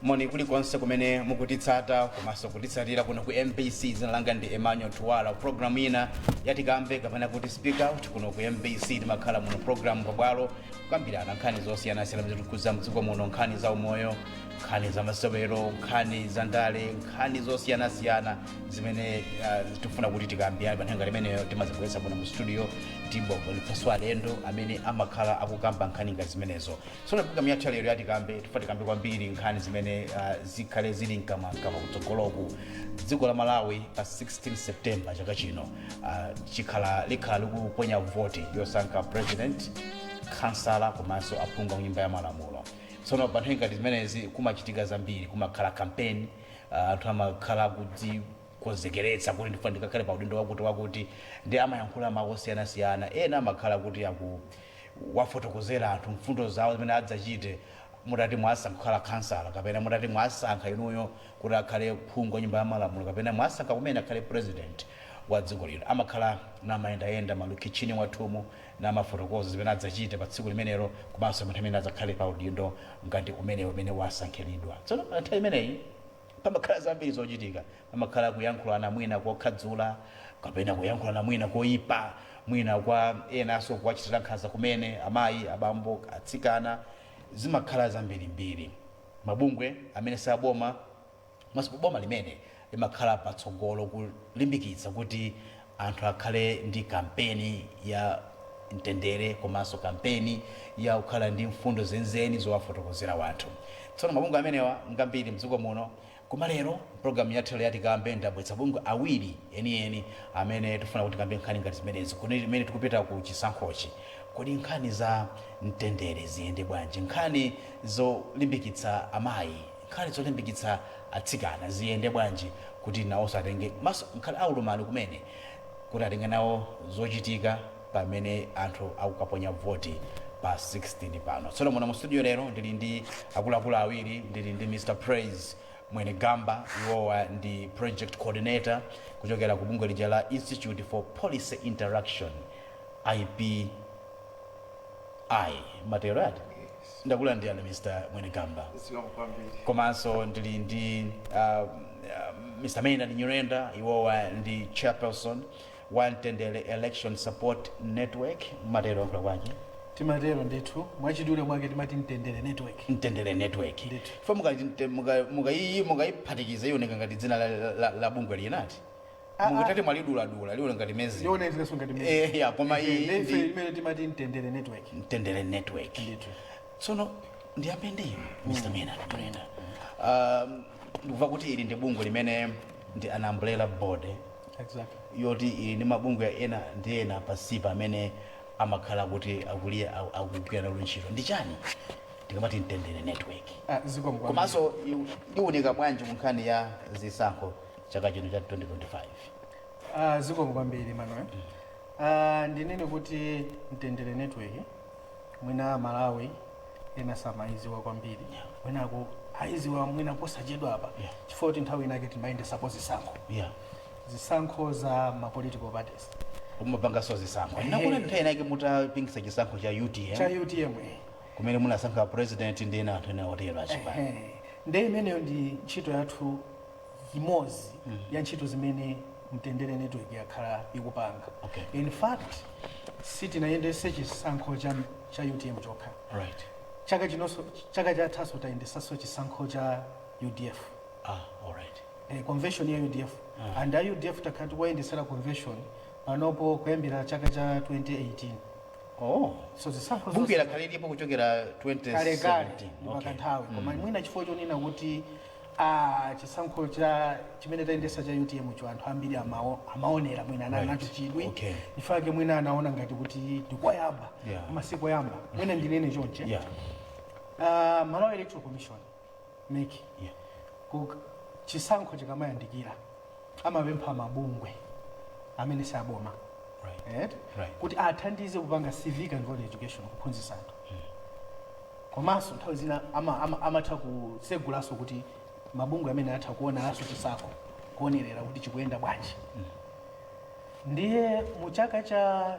Moni kulikonse kumene mukutitsata komanso kutitsatira kuno ku MBC. Dzina langa ndi Emmanuel Tuwala. Programu ina ya Tikambe kapena kuti speak out kuno ku MBC timakhala muno programu pabwalo kukambirana nkhani zosiyanasiyana zimene zikukhudza mdziko muno, nkhani za umoyo, nkhani za masewero, nkhani za ndale, nkhani zosiyanasiyana zimene uh, tifuna kuti tikambirane pa nthawi imeneyo. Timazibweretsa muno mu studio tibweretsanso alendo amene amakhala akukamba nkhani ngati zimenezo. tsono programu yathu yalero ya Tikambe tifuna tikambe kwambiri nkhani zimene uh, zikhale zili mkamwamkamwa kutsogoloku dziko la malawi pa 16 september chaka chino uh, chikhala likhala likuponya voti yosankha president kansala komanso aphungu a nyumba ya malamulo tsono pa nthawi ngati zimenezi kumachitika zambiri kumakhala kampeni uh, anthu amakhala kudzikonzekeretsa kuti ndifuna ndikakhale pa udindo wakuti wakuti ndi amayankhula mawu osiyanasiyana ena amakhala kuti aku wafotokozera anthu mfundo zawo zimene adzachite mutati mwasankha kukhala khansala kapena mutati mwasankha inuyo kuti akhale phungu wa nyumba ya malamulo kapena mwasankha kumene akhale president wa dziko lino amakhala namayendayenda malokeshoni mwathumu namafotokoza zimene adzachite pa tsiku limenelo komanso pa nthawi imene adzakhale pa udindo ngati umenewo umene wasankhiridwa tsono pa nthawi imeneyi Pamakhala zambiri zochitika. Pamakhala kuyankhulana mwina kokhadzula kapena kuyankhulana mwina koipa, mwina kwa enanso kuwachitira nkhanza kumene, amayi, abambo, atsikana. Zimakhala zambirimbiri. Mabungwe amene si aboma komanso boma limene limakhala patsogolo kulimbikitsa kuti Anthu akhale ndi kampeni ya mtendere komanso kampeni ya kukhala ndi mfundo zenizeni zowafotokozera wanthu. Tsono mabungwe amenewa ngambiri mdziko muno koma lero mpulogalamu yathu ya Tikambe ndabweretsa mabungwe awiri enieni amene tikufuna kuti tikambe nkhani ngati zimenezi kumene tikupita ku chisankhochi. Kodi nkhani za mtendere ziyende bwanji? Nkhani zolimbikitsa amayi? Nkhani zolimbikitsa atsikana ziyende bwanji kuti nawonso atenge komanso nkhani aulumali kumene kuti atenge nawo zochitika pamene anthu akukaponya voti pa 16 pano tsono muno mu studio lero ndili ndi akuluakulu awiri ndili ndi Mr Praise Mwenegamba iwowa ndi project coordinator kuchokera ku bungwe lija la Institute for Policy Interaction IPI mmatero eti Ndakulandirani Mr Mwenegamba. Zikomo kwambiri. Komanso ndili ndi uh, Mr Maynard Nyirenda, iwowa ndi chairperson wa Mtendere Election Support Network, mmatero akuluakulu aje Timatero ndithu mwachidule mwake timati Mtendere Network. Mtendere Network. Ndithu. Fo mukayiphatikiza muka, muka ioneka ngati dzina la, la, la bungwe linatu Ah, ah. mukatati mwaliduladula liona ngati mezi yona izileso ngati mezi. Eh, ya, koma Eh, iyi ndi ife ndi- imene timati mtendere network mtendere network ndithu tsono ndiyambe ndi inu mr maynard nyirenda Um, ndikuva kuti ili ndi bungwe limene ndi an umbrella body eh, exactly yoti ili ndi mabungwe ena ndi ena pansipa amene amakhala kuti akuliya aku- akugwira nawo ntchito ndi chani ndikamati mtendere network Ah, zikomo kwambiri. komanso iwu- iwunika bwanji ku nkhani ya zisankho chaka chino cha 2025 Ah, zikomo kwambiri manuel Ah, ndinene kuti mtendere network mwina amalawi ena samayiziwa kwambiri mwinako ayiziwa mwina posachedwa apa Yeah. chifukwa kuti nthawi inake timayendesapo zisankho yeah zisankho za ma political parties mumapangaso zisankho Ehe. ndakumbuka nthawi inake munapangisa chisankho cha utm cha utm eh. kumene munasankha president ndi ena anthu ena otero achipani Ehe. nde imeneyo ndi ntchito yathu imodzi mm. ya ntchito zimene mtendere network yakhala ikupanga okay. in fact sitinayendese chisankho cha, cha utm chokha right. chaka chinonso chaka chathaso tayendesanso chisankho cha udf ah, all right. eh, convention ya udf ah. and a udf takhala tikuwayendesera convention panopo kuyambira chaka cha 2018 Oh. So zisankho bunge lakhaliripo kuchokera 2017 kale kale papita nthawi koma mm. mwina chifukwa chonena kuti Aaa chisankho cha chimene tayendesa cha utm cho anthu ambiri amawo amaonera mwina anali nacho Right. chidwi Okay. chifukwa chake mwina anaona ngati kuti ndikoyamba Yeah. koma sikoyamba mwina ndinene chonche Yeah. Ah, Malawi Electoral Commission MEC Yeah. ku- chisankho chikamayandikira amapempha mabungwe amene si aboma Right. eti, Right. kuti athandize kupanga civic and voter education kuphunzitsa anthu komanso nthawi zina ama- ama- amatha kusegulanso kuti mabungwe amene atha kuoneranso chisankho kuonerera kuti chikuyenda bwanji ndiye mu chaka cha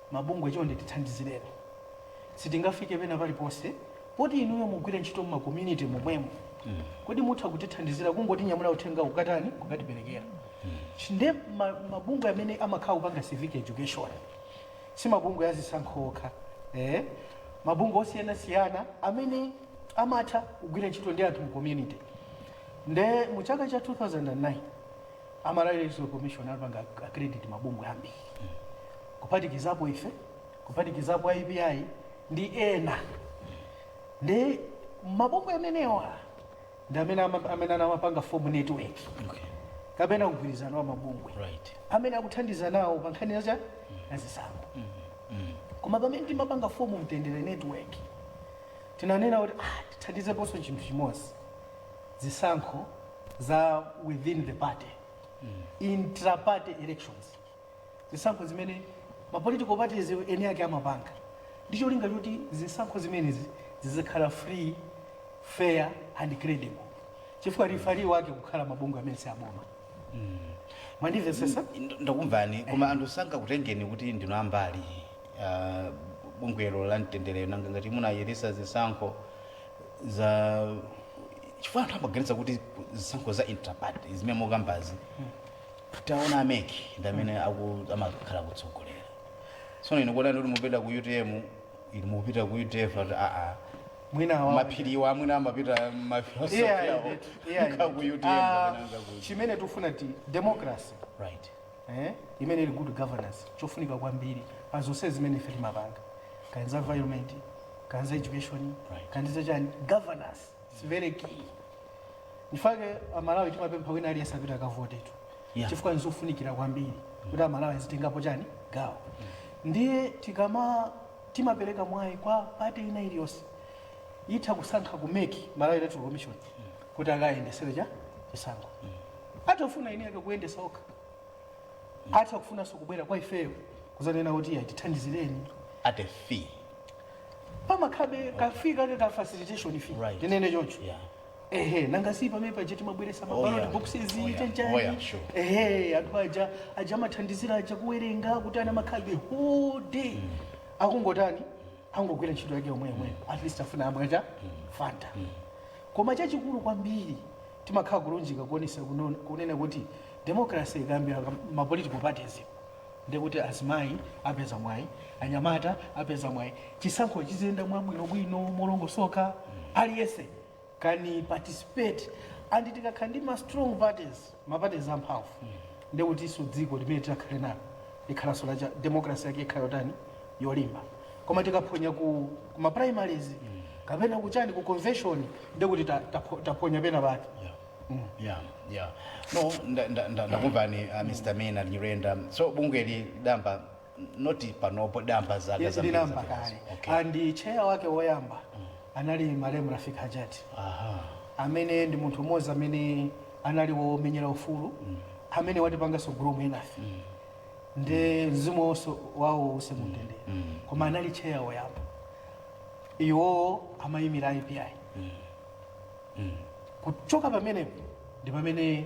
Mabungwe chonde tithandizireni. Sitingafike pena paliponse poti inuyo mumagwira ntchito mma community momwemo. Kodi mutha kutithandizira kungotinyamulira uthengawu kukatani? Kukatiperekera. Nde ma mabungwe amene amakhala kupanga civic education si mabungwe a zisankho okha. Eeh mabungwe osiyanasiyana amene amatha kugwira ntchito ndi anthu mu community. Nde mu chaka cha 2009. a Malawi Electoral Commission anapanga accredit mabungwe ambiri kuphatikizapo ife kuphatikizapo IPI ndi ena nde mabungwe amenewa ndi amene ama- amene anamapanga form network Okay. kapena mgwirizano wa mabungwe Right. amene akuthandiza nawo pa nkhani yacha yazisankho koma pamene timapanga form mtendere network tinanena kuti ah, tithandizeponso chinthu chimodzi zisankho za within the party intra-party elections zisankho zimene ma political parties eni ake amapanga ndi cholinga choti zisankho zimenezi zizikhala free fair and credible chifukwa referee wake akukhala mabungwe amene si aboma mwandimvesesa Nd- ndakumvani koma anthu sangakutengeni kuti ndinu ambali ah, bungwelo la mtendere nanga ngati munayendesa zisankho za chifukwa anthu amaganiza kuti zisankho za intraparty zimene mukambazi taona a MEC ndi amene aku- amakhala kutsogolera tsono ine kukuonani kuti mupita ku utm ine mukupita ku udf ati aa mwina awa- maphiriwa amwene amapita Yeah, ma philosophy yeah, yeah. ku utm Ah, kapena ku- chimene tikufuna ndi democracy right imene ili good governance chofunika kwambiri pa zonse zimene ife timapanga kaya za environment kaya za education kaya ndi zachani governance is very key ndi chifukwa chake amalawi timapempha wina aliyense apita akavotetu Yeah. chifukwa nzofunikira kwambiri kuti amalawi azitengapo chani gawo ndiye tikama timapereka mwayi kwa pati ina iliyonse itha kusankha ku MEC malawi electoral commission kuti akayendesere cha chisankho atha kufuna eni ake kuyendesa okha atha kufunanso kubwera kwa ifeyo kuzanena kuti ya tithandizireni at a fee pamakhalabe ka fee kake ka facilitation fee Right. tinene choncho yeah ehe nanga si pamene paja timabweresa Oh, ma ballot yeah. boxes Oh, yeah. chanchani Oh, yeah, sure. ehe anthu aja aja amathandizira aja kuwerenga kuti aa amakhalabe whole day akungotani angogwira ntchito yake yomwe yomwe at least afuna amweko ka fanta Koma chachikulu kwambiri, timakhala kulunjika kuonesa kunena kuti democracy ikayambira m'ma political parties ndiye kuti azimayi apeza mwayi, anyamata apeza mwayi, chisankho chiziyenda mwabwinobwino, molongosoka, aliyense can participate and tikakhala ndi ma strong parties, ma parties amphamvu ndekutinso dziko limene titakhale nalo likhalanso la democracy yake ikhala yotani yolimba koma tikaphonya ku ku ma primaries kapena kuchani ku convention ndekuti ta- tapho- taphonya pena pake yeah yeah no nda- nda- nda- ndakumvani uh, mr maynard nyirenda so bungweli lakhwima not panopo damba zaka Yes, zambiri ndilamba zapitazo. kale Okay. and chair wake woyamba anali malemu rafik hajati Aha. amene ndi munthu umodzi amene anali womenyera ufulu amene watipanganso groom enafe ndi mzimu wonso wawo uuse mumtendere koma anali chair woyamba iwowo amayimira ipi kuchoka pamenepo ndi pamene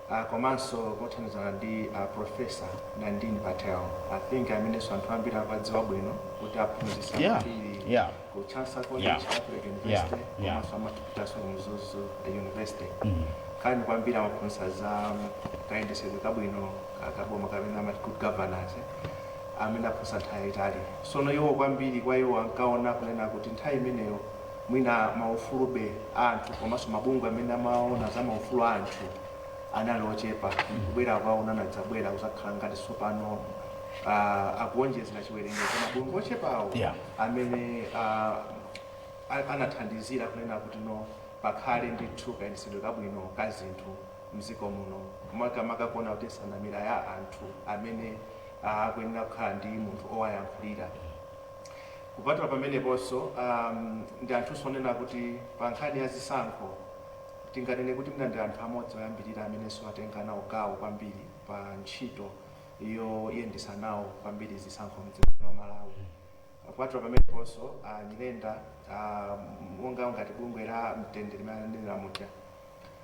uh, komanso kothandizana ndi uh, profesa nandini patel i think amenenso anthu ambiri akuwadziwa bwino kuti aphunzitsa Yeah, ambiri yeah. ku chancellor college Yeah. catholic university Yeah, yeah. komanso amapitanso ku mzuzu university kani kwambiri amaphunzitsa za um, kayendetsedwe kabwino ka- kaboma kapena amati good governance amene aphunzitsa nthawi yaitali sono iwo kwambiri kwa iwo ankaona kunena kuti nthawi imeneyo Mwina maufulu a anthu komanso mabungwe amene amaona za maufulu a anthu anali ochepa, kubwera kwawo anadzabwera kuzakhala ngati tsopano uh, akuonjezera chiwerengero cha mabungwe ochepawo yeah. amene uh, anathandizira kunena kuti no pakhale ndithu kayendetsedwe kabwino ka zinthu mdziko muno makamaka kuona kuti nsanamira ya anthu amene akuyenera kukhala ndi munthu owayankhulira Kupatula pameneponso, a ndi anthunso onena kuti pa nkhani ya zisankho, tinganene kuti mwina ndi anthu amodzi oyambirira amenenso atenga nawo gawo kwambiri pa ntchito yoyendetsa nawo kwambiri zisankho m'dziko lino la Malawi. Kupatula pameneponso, a Nyirenda, a monga ngati bungwe la Mtendere limene ananena muja,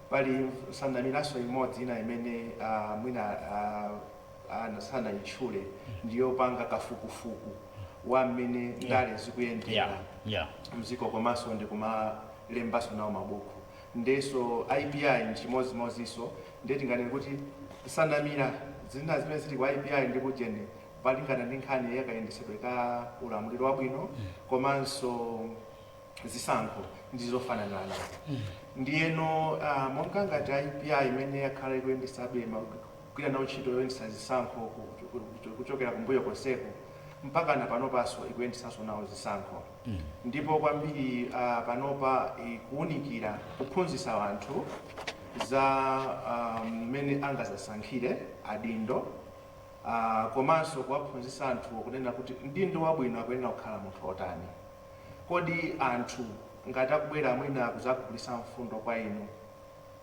pali nsanamiraso imodzi ina imene a mwina a. ena sanayitchule ndi yopanga kafukufuku wa mmene ndale zikuyendera mziko komanso ndikumalembanso nawo mabuku ndenso IPI nchimodzimodzinso nde tinganene kuti nsanamira zina zimene zili ku IPI ndi kujeni palingana ndi nkhani yakayendetsedwe ka ulamuliro wabwino komanso zisankho ndi zofananana ndiyeno ah, monga ngati a IPI imene yakhala ikuyendesabe ma- kugwira nawo ntchito yoyendesa zisankho ku- ku- ku- kuchokera kumbuyo konseko mpaka na panopanso ikuyendesanso nawo zisankho ndipo kwambiri ah, panopa ikuwunikira kuphunzitsa anthu za ah, mmene angazasankhire adindo ah, komanso kuwaphunzitsa anthu kunena kuti mdindo wabwino akuyenera kukhala munthu otani Kodi anthu ngati akubwera mwina kudzagulisa mfundo kwa inu,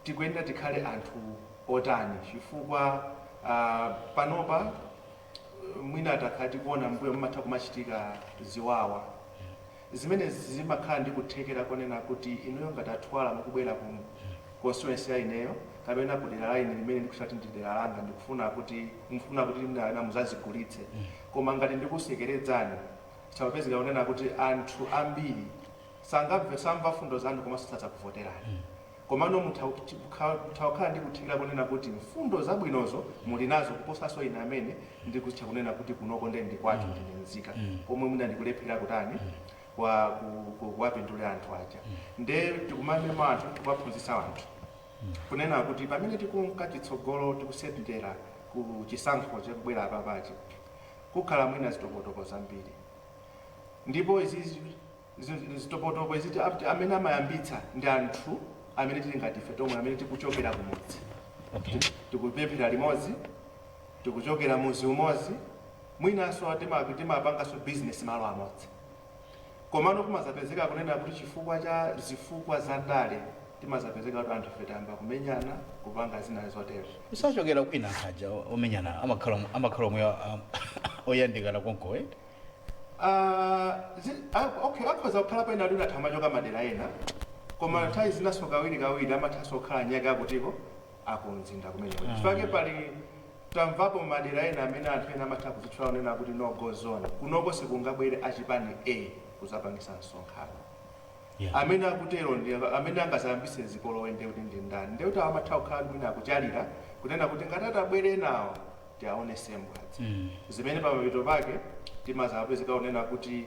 tikuyenera tikhale anthu otani chifukwa panopa mwina takhala tikuona mmbuyo mumatha kumachitika ziwawa zimene zimakhala ndi kuthekera konena kuti inuyo ngati a Thwala mukubwera ku constituency ya ineyo kapena ku dera la ine limene ndikutchula kuti ndi dera langa ndikufuna kuti mukufuna kuti mwina muzazigulitse koma ngati ndikusekeredzani Chimapezeka kunena kuti anthu ambiri sangamve samva mfundo zanu komanso sadzakuvoterani. Komano mutha kukha mutha kukhala ndi kuthekera kunena kuti mfundo zabwinozo muli nazo kuposanso ine amene ndikuzitcha kunena kuti kunoko nde ndi kwathu ndine mzika pomwe mwina ndikulephera kutani kwa ku ku kuwapindulira anthu aja. Nde tikumamema anthu tikuwaphunzitsa anthu kunena kuti pamene tikunka chitsogolo tikusendera ku chisankho chikubwera apapachi, kukhala mwina zitopotopo zambiri ndipo izi zi- zi- zitopotopo izi ti- ti- amene amayambitsa ndi anthu amene tili ngati ife tomwe amene tikuchokera kumudzi Okay. tikupemphera limodzi tikuchokera muzi umodzi mwinanso timapanganso bizinesi malo amodzi Komano kumadzapezeka kunena kuti chifukwa cha zifukwa za ndale timadzapezeka kuti anthu ife tayamba kumenyana, kupanga zina zotero. Sachokera kwina aja omenyana amakhala amakhala omwe oyandikana konko eti? Uh, zi, a, okay, akhoza kukhala pena ena atha kumachoka madera ena koma mm. nthawi zinanso kawiri kawiri amathanso kukhala nyake akutiko akumzinda kumene mm. chifukwa pali Tamvapo mmadera ena amene anthu ena amatha kuzitchula kunena kuti no go zone kunoko sikungabwere achipani A kuzapangisa msonkhano. Yeah. Amene akutero ndi amene angazayambise zipolowe ndiye kuti ndi ndani? Ndiye kuti awa amatha kukhala kuti mwina akutchalira kunena kuti ngati atabwere enawa tiwaonese mbwadza. Zimene pamapeto pake timazapezeka kunena kuti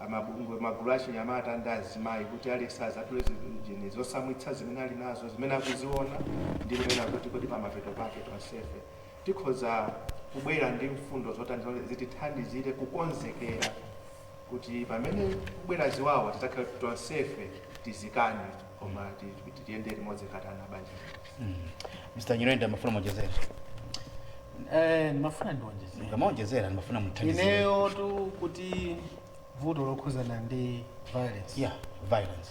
amabungwe, magulu achinyamata ndi azimayi kuti aliyense azatule zinthu zotsamwitsa zimene ali nazo, zimene akuziona ndi kunena kuti kodi pamapeto pake tonsefe tikhoza kubwera ndi mfundo zotani zitithandizire kukonzekera kuti pamene kubwera ziwawa tidzakhale tonsefe tizikane. koma ti- ti- ti- tiyende limodzi ngati a pabanja mr nyirenda mafuna mwonjezera Eh, ndimafuna ndiwonjezere ngamawonjezera ndimafuna muthandizire ineyo tu kuti vuto lokhuzana ndi violence yeah violence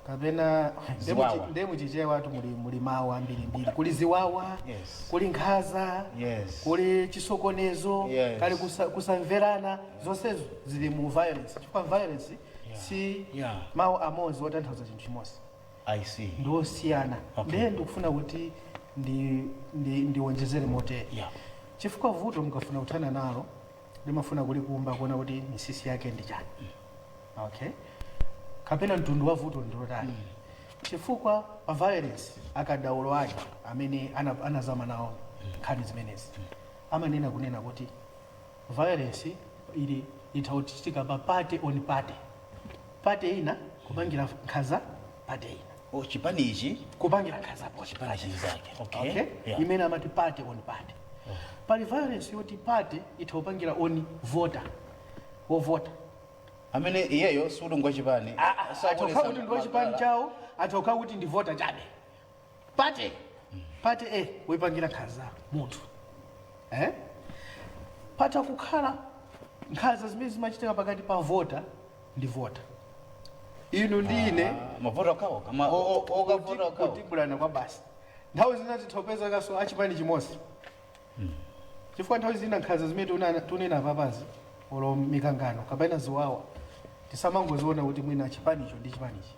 kapena Ziwawa. nde muchichewa tu muli, muli mawu ambirimbiri kuli ziwawa Yes. kuli nkhanza Yes. kuli chisokonezo Yes. kuli kusa, kusamverana zonsezo zili mu violence chifukwa violence si Yeah. mawu amodzi otanthauza chinthu chimodzi I see. ndi osiyana Okay. ndiye ndikufuna kuti ndi- ndi- ndiwonjezere motere Yeah. chifukwa vuto mukafuna kuthana nalo limafuna kulikumba kuona kuti misisi yake ndi chani okay kapena mtundu wa vuto ndilotani chifukwa pa violence akadaulo ake amene ana- anazama nawo nkhani zimenezi amanena kunena kuti Violence ili itha kuchitika pa party on party. Party ina kupangira nkhanza party ina. Oh, chipani ichi kupangira nkhanza chipani chinzake. Okay. okay? Yeah. Imene amati party on party. Oh. Pali violence yoti party itha kupangira on voter. Wo voter. amene iyeyo sikuti ngwachipani atha kukhala kuti ndi wachipani chawo atha kukhala kuti ndi vota chabe party party kumupangira nkhanza munthu eh? patha kukhala nkhanza zimene zimachitika pakati pa vota ndi vota inu ndi ine mavota okhawo kama o- o- o- okavota kuti- okhawo kutibulana kwa basi nthawi zina tithopezekaso achipani chimodzi chifukwa nthawi zina nkhanza zimene tiona- tunena papazi olo mikangano kapena ziwawa tisamangoziona kuti mwina chipanicho ndi chipanichi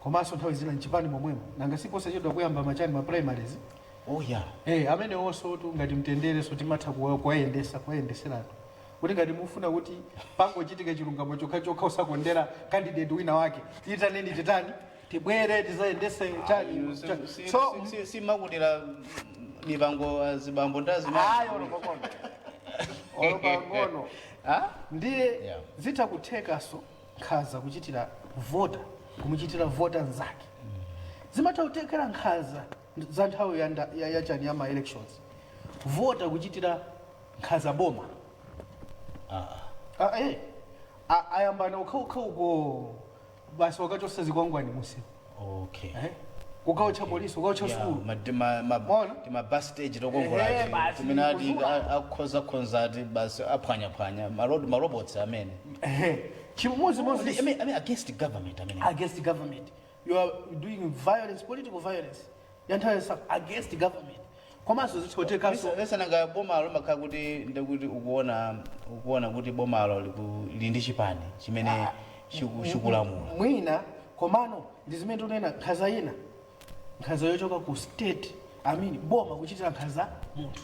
komanso nthawi zina mchipani momwemo nanga siposachedwa kuyamba machani ma primaries oh yeah eh amenewonso tu ngati mtendere so timatha kuwa- kuwayendesa kuwayendeseratu kuti ngati mufuna kuti pangochitika chilungamo chokhachokha osakondera candidate wina wake tiitaneni titani tibwere tizayendese chani cha- so simakutira mipango azibambo ayi ndazimai olo pang'ono olo pang'ono Ah? ndiye Yeah. zitha kuthekaso nkhaza kuchitira voter kumuchitira voter nzake zimatha kutekera nkhaza za nthawi ya nda- ya- yachani ya ma elections voter kuchitira nkhaza boma Ah, eh. A- ayambana okhaokha uko basi wakachosa zikwangwani musi okay ehe ukaotcha polisi ukaotcha Yeah, sukulu ma- tima- ma- Mwaona? tima bus stage Ehe, tokongolati basi, kumene a kuzula. a- akhoza khoza ati basi aphwanyaphwanya malod marobots amene ehe chimodzimodzi I mean- I mean against government amene against government you are doing violence political violence ya nthawi yonse against government komanso zithotekanso Nesa nesa nanga boma lomakhala kuti ndekuti ukuona ukuona kuti bomalo liku lili ndi chipani chimene Ah, chiku- m- chikulamula. m- mwina komano ndi zimene tikunena nkhanza ina nkhanza yochoka ku state I mean boma kuchitira nkhanza munthu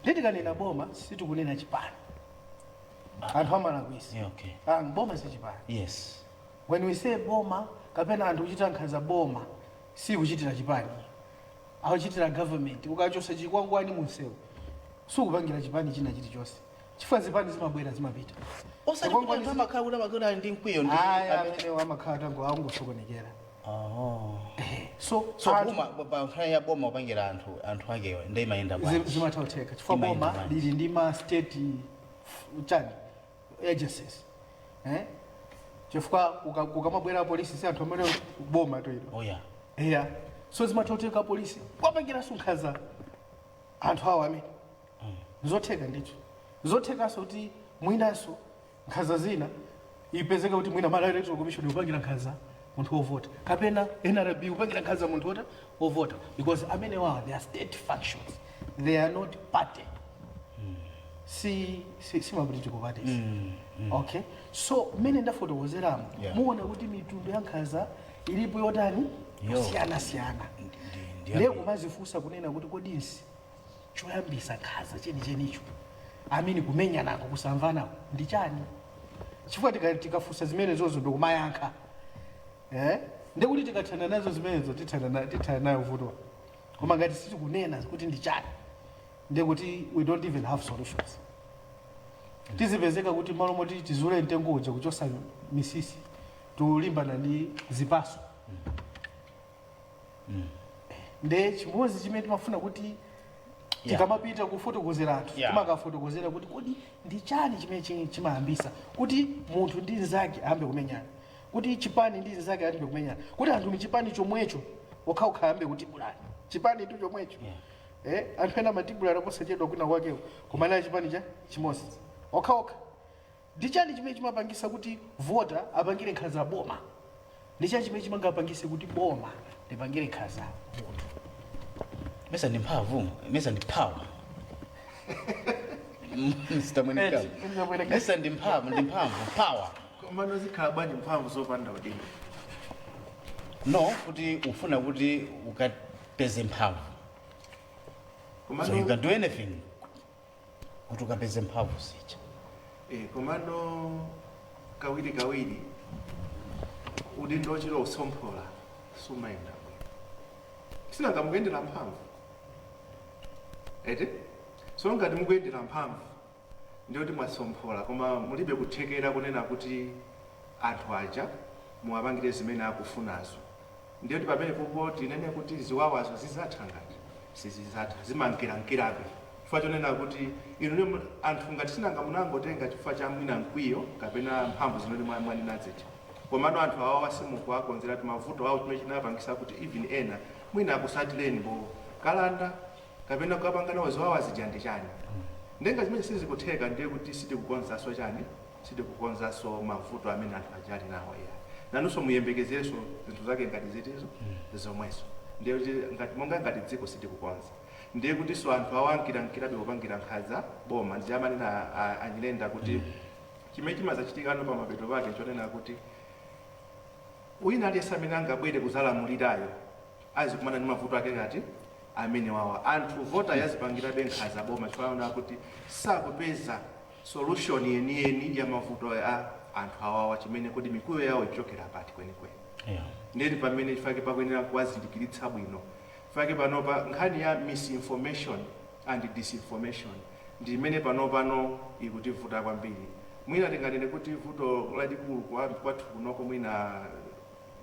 ndi tikanena boma sitikunena chipani anthu amalakwisa Yeah, okay. Ah, boma si chipani Yes. When we say boma kapena anthu kuchitira nkhanza boma sikuchitira chipani akuchitira government ukachosa chikwangwani munsewu sukupangira chipani china chilichose chifukwa zipani zimabwera zimapita osati kuti anthu amakhala kuti amakhala kuti ali ndi mkwiyo ndi ayi amene- amenewo amakhala tango akungosokonekera Oh. Eh, so so anthu- boma pa- pa nkhani ya boma kupangira anthu anthu akewa ndi imayenda zi- bwanji zimatha kutheka chifukwa Imayenda boma bwanji? lili ndi ma state f- chani agencies eh chifukwa kuka- kukamabwera apolisi si anthu amene boma tu ilo oh ya eya so zimatoteka apolisi kuwapangiranso nkhanza anthu awo amene zotheka ndicho zothekanso kuti mwinanso nkhanza zina ipezeka kuti mwina Malawi electoral commission kupangira nkhanza munthu wovota kapena nrb kupangira nkhanza munthu wovota ovota because amenewawa they are state functions they are not party si si si mapolitical parties okay so mmene ndafotokozeramo Yeah. muona kuti mitundu ya nkhanza ilipo yotani Yo. kusiyana siyana ndi- lero kumazifunsa kunena kuti kodi nchi choyambisa nkhanza chenichenicho amene kumenyanako kusamvanako ndi chani chifukwa tika- tikafunsa zimene zozo ndikumayankha Eh? Ndiye kuti tikathana nazo zimenezo tithana na- tithana nayo vuto. Koma ngati sitikunena kuti ndi chani, ndiye kuti we don't even have solutions. Tizipezeka kuti malo moti tizule mtengo uja kuchosa misisi, tilimbana ndi zipaso. Ndiye chimodzi chimene timafuna kuti Yeah. tikamapita kufotokozera anthu Yeah. timakafotokozera kuti kodi ndi chani chimene chi- chimayambisa kuti munthu ndi mnzake ayambe kumenyana kuti chipani ndi nzake ayambe kumenyana kuti anthu mchipani chomwecho okhaokha ayambe kutibulana chipani tu chomwecho eh, anthu ena amatibulana posachedwa kwinakwakeko koma a chipani cha chimodzi okhaokha ndi chani chimene chimapangisa kuti vota apangire nkhanza boma ndi chani chimene chingapangise kuti boma lipangire nkhanza munthu mesa ndi mphamvu mesa ndi power Mr. Mwenekama. Eti, Mr. Mwenekama. mesa ndi mphamvu ndi mphamvu power komano zikhala bwanji mphamvu zopanda udindo no kuti ufuna kuti ukapeze mphamvu so you can do anything kuti ukapeze mphamvu zija eh, komano kawiri kawiri udindo ochita usomphola sumayenda bwino sinanga mukuyendera mphamvu eti so ngati mukuyendera mphamvu ndiye kuti mwasomphola koma mulibe kuthekera kunena kuti anthu aja muwapangire zimene akufunazo ndiye kuti pamenepopo tinene kuti ziwawazo zizatha ngati sizizatha zimankirankirabe chifukwa chonena kuti inu anthu ngati sinanga munangotenga chifukwa cha mwina mkwiyo kapena mphamvu zimene mwa- mwanena zija komano anthu awawa simukuwakonzeratu mavuto awo chimene chinapangisa kuti even ena mwina akusatireni pokalanda kapena kukapanga nawo ziwawa zija ndi chani ndiye ngati zimenezi sizikutheka ndiye kuti sitikukonzanso chani sitikukonzanso mavuto amene anthu aja ali nawo ya nanunso muyembekezerenso zinthu zake ngati zitizo zomwezo ndiye kuti ngati monga ngati dziko sitikukonza ndiye kutinso anthu awo ankirankirabe kupangira nkhanza boma ndi amanena a- a- a Nyirenda kuti chimene chimazachitikano pa mapeto pake chonena kuti wina aliyense amene angabwere kuzalamulirayo azikumana ndi mavuto ake ngati amenewawa. Anthu votayi azipangirabe nkhanza boma chifukwa aona kuti sakupeza solution yeniyeni ya mavuto a anthu awawa chimene kodi mikwiyo yawo ikuchokera pati kwenikweni Yeah. ndiye ndi pamene chifake pakuyenera kuwazindikiritsa bwino chifake panopa nkhani ya misinformation and disinformation ndi imene panopano ikutivuta kwambiri mwina tinganene kuti vuto lalikulu kwa- kwathu kunoko mwina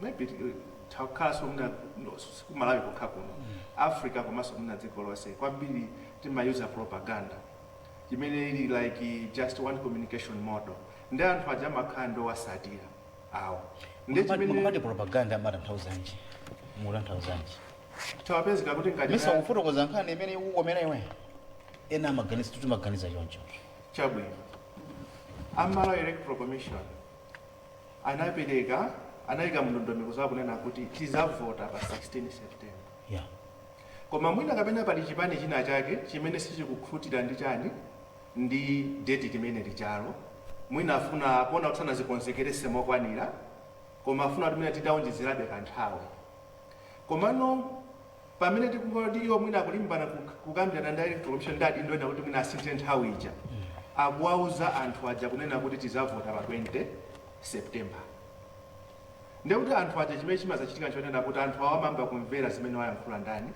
maybe eh, takhalanso mwina no, si ku Malawi kokha kuno Africa komanso mwina dziko lonse kwambiri timayuza propaganda imene ili like just one communication model ndi anthu aja amakhala ndi owatsatira awo ndi Mukapati- mukapati chimene propaganda amatanthauzanji mutanthauzanji tawapezeka kuti mesa ngati kufotokoza nkhani imene ikukomera iwe ena amaganiza timaganiza choncho chabwino a Malawi Electoral Commission anapereka anayika ndondomeko zawo kunena kuti tizavota pa 16 september yeah. koma mwina kapena pali chipani china chake chimene sichikukhutira ndi chani ndi deti limene lijalo mwina afuna kuona kuti sanazikonzekerese mokwanira koma afuna kuti mwina tidaonjezerabe kanthawi komano pamene tikumva kuti iwo mwina akulimbana kuk kukambirana ndi a electoral commission ndi adindo ena kuti mwina asinthe nthawi ija akuwauza anthu aja kunena kuti tizavota pa 20 september ndiye kuti anthu aja chimene chimazachitika n'chonena kuti anthu awo amayamba kumvera zimene wayankhula ndani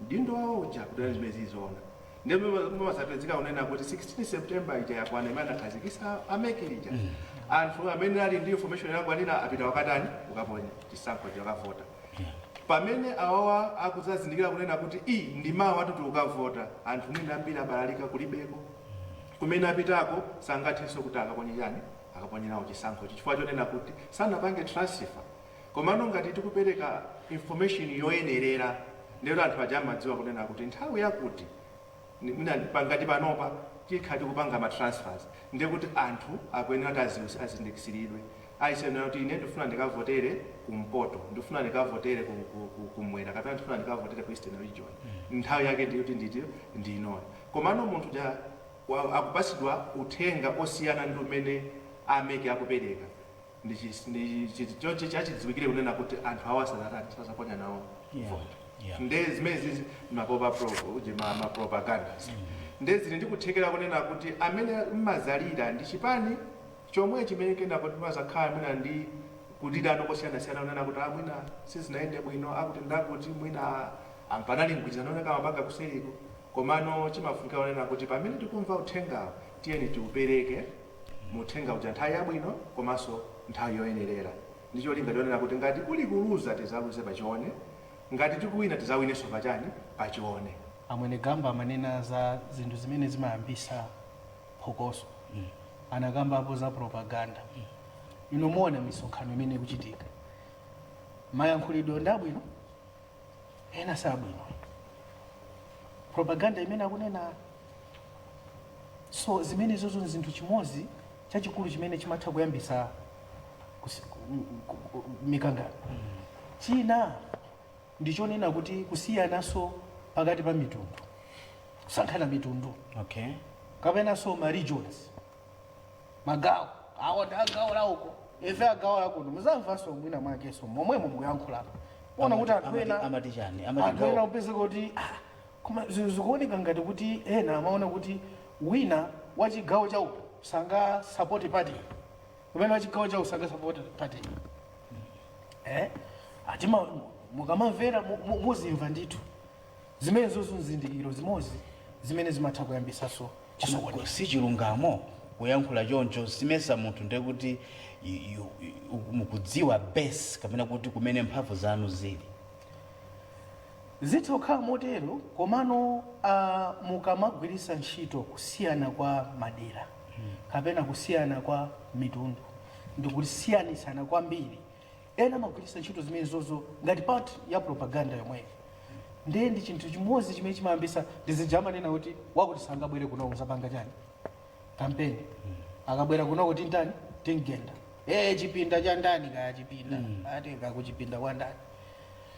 m'dindo wawo uja kudana zimene zizoona ndiye mumazapezeka kunena kuti 16 september ija yakwana imene anakhazikisa a MEC ija anthu amene ali ndi information yakwanira apita ukatani ukaponya chisankho akavota Pamene awawa akuzazindikira kunena kuti ii ndi mawa titi ukavota anthu mwina ambiri abalalika kulibeko kumene apitako sangathenso kuti akaponye chani akaponye nawo chisankhochi chifukwa chonena kuti sanapange transfer komano ngati tikupereka information yoyenerera ndekuti anthu aja amadziwa kunena kuti nthawi yakuti mwina ngati panopa tikhala tikupanga ma transfers ndiye kuti anthu akuyenera kuti aziwisi azindikisilidwe aziwe kunena kuti ine ndikufuna ndikavotere ku mpoto ndikufuna ndikavotere ku, ku, ku, kumwera kapena ndikufuna ndikavotere ku eastern region nthawi yake ndiye kuti ndithu ndi inoyo komano munthu uja wa- akupasidwa uthenga osiyana ndi umene a MEC akupereka Ndi chinthu choti chachidziwikire kunena kuti anthu awa sanatani, sazaponya nawo yeah. vote yeah. Nde zimene zizi mapropa pro, uje ma, ma propagandas mm -hmm. Nde zili ndi kuthekera kunena kuti amene mmazalira ndi chipani chomwe chimene kena kuti mazakhala mwina ndi udidano kosiyanasiyana kunena kuti ah, mwina sizinayende bwino akuti ndi akuti mwina panali mgwirizano omwe amapanga kuseriku komano chimafunika kunena kuti pamene tikumva uthengawo Tiyeni tiupereke uthenga uja nthawi yabwino komanso nthawi yoyenerera ndi cholinga chonena kuti ngati kuli kuluza tizaluze pa chione, ngati tikuwina tizawinenso pa chani? Pa chione. A Mwenegamba amanena za zinthu zimene zimayambisa phokoso. Anakambapo za propaganda. Inu muona misonkhano imene ikuchitika. Mayankhulidwe ndi abwino? ena sabwino propaganda imene akunena so zimene zozo nchinthu chimozi chachikulu chimene chimatha kuyambisa mikangano mm. china ndichonena kuti kusiyanaso pakati pa mitundu kusankhana mitundu okay. kapenaso ma regions magawo awo ndi agawo la uko ife agawo la kuno muzamvanso mwina mwakenso momwemo mukuyankhula poona kuti anthu ena amati chani anthu ena amati upezeka kuti ah, koma zinthu zikuoneka ngati kuti ena amaona kuti wina wa chigawo cha uku sangasapote party kapena wa chigawo cha uku sangasapote party eh? ati mukamamvera mu- mu- muzimva ndithu Zimenezozo n'zizindikiro zimodzi zimene zimatha kuyambitsanso chisokonezo. Koma si chilungamo kuyankhula choncho, sindimayesa munthu ndiye kuti you, you, mukudziwa base kapena kuti kumene mphamvu zanu zili. Zitha kukhala motero komano a mukamagwiritsa ntchito kusiyana kwa madera kapena kusiyana kwa mitundu ndikusiyanitsana kwambiri Ena amagwiritsa ntchito zimenezozo ngati part ya propaganda yomweyo. Ndiye ndi chinthu chimodzi chimene chimayambitsa ndi zija amanena kuti wakuti sangabwere kuno kuzapanga chani kampeni akabwera kunoko timtani timgenda ee chipinda cha ndani kaya chipinda ati kuchipinda kwa ndani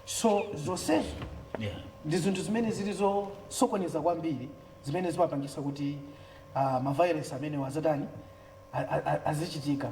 so zonsezo Yeah. ndi zinthu zimene zili zosokoneza kwambiri zimene zimapangisa kuti uh, maviolence amenewa azitani a- a- a- azichitika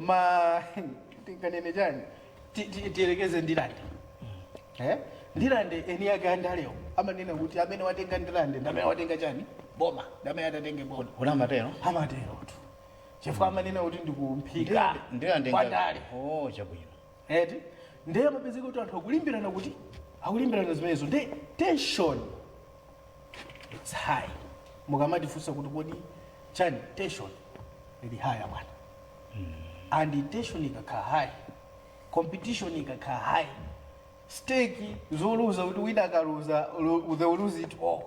ma tinganene chani Ti- ti- tiyerekeze ndilande Eh? ndilande eni ake andalewo amanena kuti amene watenga ndilande ndi amene watenga chani boma ndi amene atatenge boma kuno amatero amaterotu chifukwa amanena kuti ndikumphika ndilande kwandale oh chabwino eti ndiye amapezeka kuti anthu akulimbirana kuti akulimbirana zimenezo ndi tension it's high mukamatifunsa kuti kodi chani tension ili high bwana and tension ikakhala high competition ikakhala high stake zoluza kuti wina akaluza lu- they will lose it all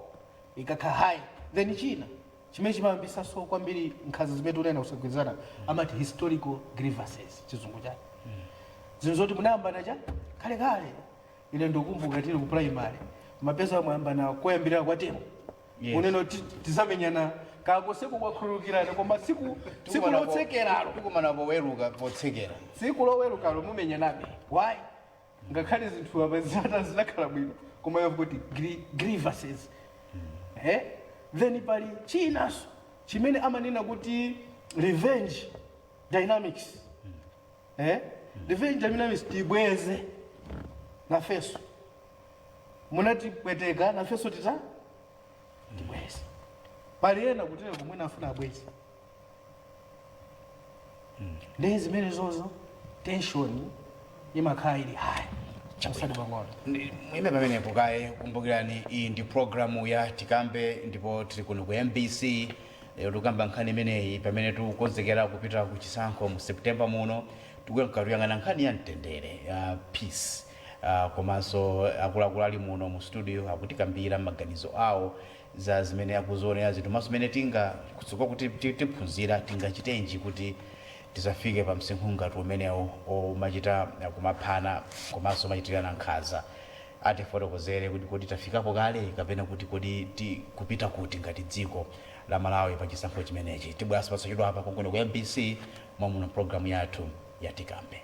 ikakhala high then china chimene chimayambisaso kwambiri nkhanza zimene tikunenazo kusagwirizana amati historical grievances chizungu chake zinthu zoti munayambana cha kalekale Ine ndikukumbuka tili ku primary mapeza mwayambana koyambirira kwa temu Yes. unene ti- tizamenyana kakoseko kwakhululukirana koma tsiku tsiku lotsekeralo tikumana poweruka potsekera tsiku lowerukalo mumenyanabe why ngakhale zinthu apa zata zinakhala bwino koma iwe kuti gri- grievances eh? then pali chinanso chimene amanena kuti revenge dynamics eh ndife njamina misi tibweze nafenso munatipweteka nafenso tita tibweze pali ena kutereku mwina afuna abweze nde zimenezozo tension imakhala ili high chasadi pang'ono Ndi- mwina pamenepo kaye kumbukirani iyi ndi programu ya tikambe ndipo tili kuno ku mbc Lero tikukamba nkhani imeneyi pamene tikukonzekera kupita ku chisankho mu September muno. Tikuyamka tuyang'ana nkhani ya mtendere ya peace uh, komanso akuluakulu ali muno mu studio akutikambira maganizo awo za zimene akuzionera zinthu komanso mmene tinga kutsogolo kuti ti- tiphunzira tingachitenji kuti tisafike pa msinkhu ngati umenewo omachita kumaphana komanso kumachitirana nkhanza Atifotokozere kuti kodi tafikapo kale kapena kuti kodi tikupita kuti ngati dziko la Malawi pa chisankho chimenechi. Tibweranso posachedwapa konkuno ku mbc mommuno m'programu yathu ya Tikambe.